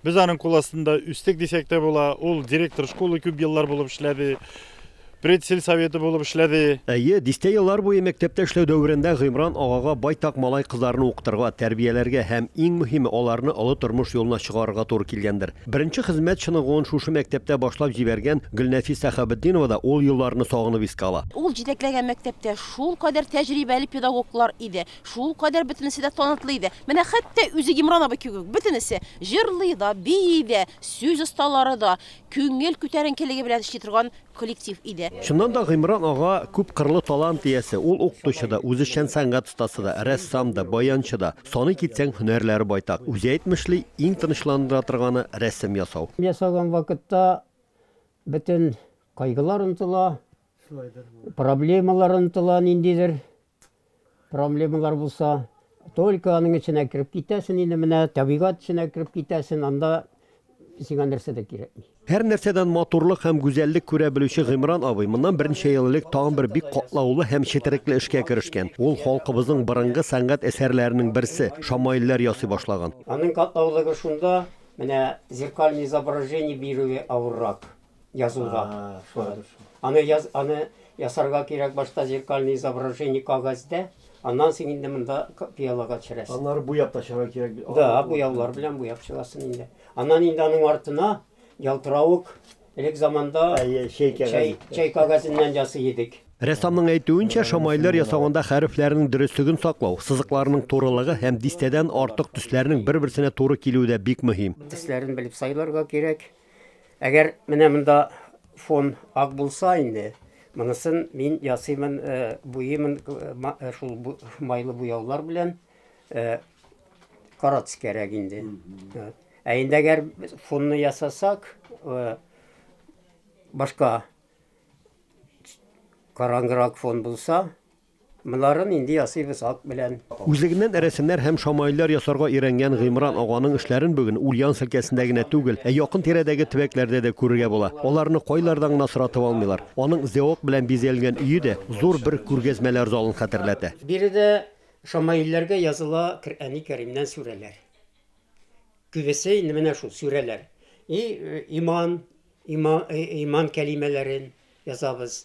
Без аның кул астында үстек дисәк тә була. Ул директор школы күп еллар булып эшләде, предсельсоветы булып эшләде. Әйе, дистә еллар буе мәктәптә эшләү дәверендә Гыймран агага байтак малай-кызларны укытырга, тәрбияләргә һәм, иң мөһиме, аларны олы тормыш юлына чыгарырга туры килгәндер. Беренче хезмәт чыныгуын шушы мәктәптә башлап җибәргән Гөлнәфис Сәхабетдинова да ул елларны сагынып искә ала. Ул җитәкләгән мәктәптә шулкадәр тәҗрибәле педагоглар иде, Шул кадәр бөтенесе дә танытлы иде. Менә хәтта үзе Имран абый кебек бөтенесе җырлый да, бии дә, сүз осталары да, күңел күтәренкелеге белән эшли торган коллектив иде. Чыннан да Гыймран ага күпкырлы талант иясе. Ул укытучы да, үзешчән сәнгать остасы да, рәссам да, баянчы да. Саный китсәң, һөнәрләре байтак. Үзе әйтмешли, иң тынычландыра торганы, рәсем ясау. Ясаган вакытта бөтен кайгылар онытыла, проблемалар онытыла, ниндидер проблемалар булса, только аның эченә кереп китәсен инде менә, табигат эченә кереп китәсен, анда сиңа нәрсә дә кирәкми. Һәр нәрсәдән матурлык һәм гүзәллек күрә белүче Гыймран абый моннан берничә ел элек тагын бер бик катлаулы һәм четерекле эшкә керешкән. Ул халкыбызның борынгы сәнгать әсәрләренең берсе, шамаилләр ясый башлаган. Аның катлаулыгы шунда, менә зеркальный изображение бирүе авыррак. язуга. Аны яз, аны ясарга кирәк башта зеркальный изображение кагазьдә, аннан соң инде монда пиалага төшерәсең. Аннары буяп та чыгарга кирәк. Да, буяулар белән буяп чыгасың инде. Аннан инде аның артына ялтыравык элек заманда чәй кәгазе. Чәй кәгазеннән ясый идек. Рәссамның әйтүенчә, шамайлер ясаганда хәрефләрнең дөреслеген саклау, сызыкларның турылыгы һәм дистәдән артык төсләрнең бер-берсенә туры килүе дә бик мөһим. Төсләрен белеп сайларга кирәк. Әгәр менә монда фон ак булса инде, монысын мин ясыймын, э, буйымын э, шул майлы буяулар белән карат кирәк инде. Ә инде әгәр фонны ясасак, башка караңгырак фон булса, Болары нинди ясыйбыз ат белән. Үзлегеннән рәсемнәр һәм шамаилләр ясарга өйрәнгән Гыймран аганың эшләрен бүген Ульяновск өлкәсендә генә түгел, ә якын тирәдәге төбәкләрдә дә күрергә була. Аларны кайлардан гына соратып алмыйлар. Аның зәвык белән бизәлгән өе дә зур бер күргәзмәләр залын хәтерләтә. Биредә шамаилләргә языла Коръәни Кәримнән сүрәләр. Күбесе инде менә шул сүрәләр. И иман, иман кәлимәләрен язабыз.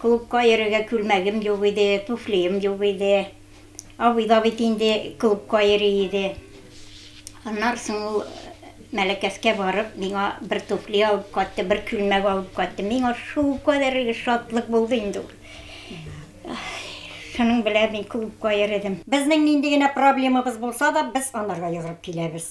Клубка йөрергә күлмәгем юк иде, туфлием юк иде. Абый да бит инде клубка йөри иде. Аннары соң ул Мәләкәскә барып, миңа бер туфли алып кайтты, бер күлмәк алып кайтты. Миңа шулкадәр шатлык булды инде ул. Шуның белән мин клубка йөредем. Безнең нинди генә проблемабыз булса да, без анарга йөгереп киләбез.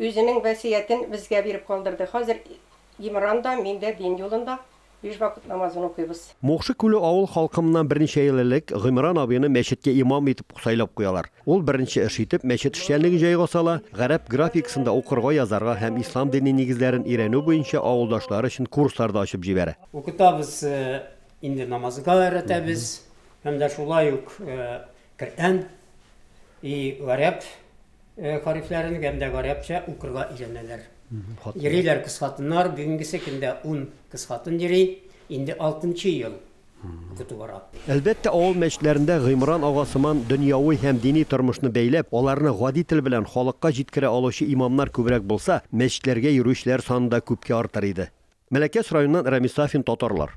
Үзенең вәсиятен безгә биреп калдырды. Хәзер Имран да, мин дә дин юлында, биш вакыт намазын укыйбыз. Мукшы Күле авыл халкы моннан берничә ел элек Гыймран абыйны мәчеткә имам итеп сайлап куялар. Ул беренче эш итеп мәчет эшчәнлеген җайга сала, гарәп графикасында укырга, язарга һәм ислам дине нигезләрен өйрәнү буенча авылдашлары өчен курслар да ачып җибәрә. Укытабыз, инде намазга өйрәтәбез һәм дә шулай ук Коръән и гарәп Хәрефләрен гәм дә гарәпчә укырга өйрәнәләр. Йөриләр кысхатыннар, бүгенгесе көндә ун кысхатын йөри, инде алтынчы ел укыту бара. Әлбәттә, авыл мәчетләрендә Гыймран ага сыман дөньяви һәм дини тормышны бәйләп, аларны гади тел белән халыкка җиткерә алучы имамнар күбрәк булса, мәчетләргә йөрүчеләр саны да күпкә артыр иде. Мәләкәс районыннан Рәмис Сафин, Татарлар.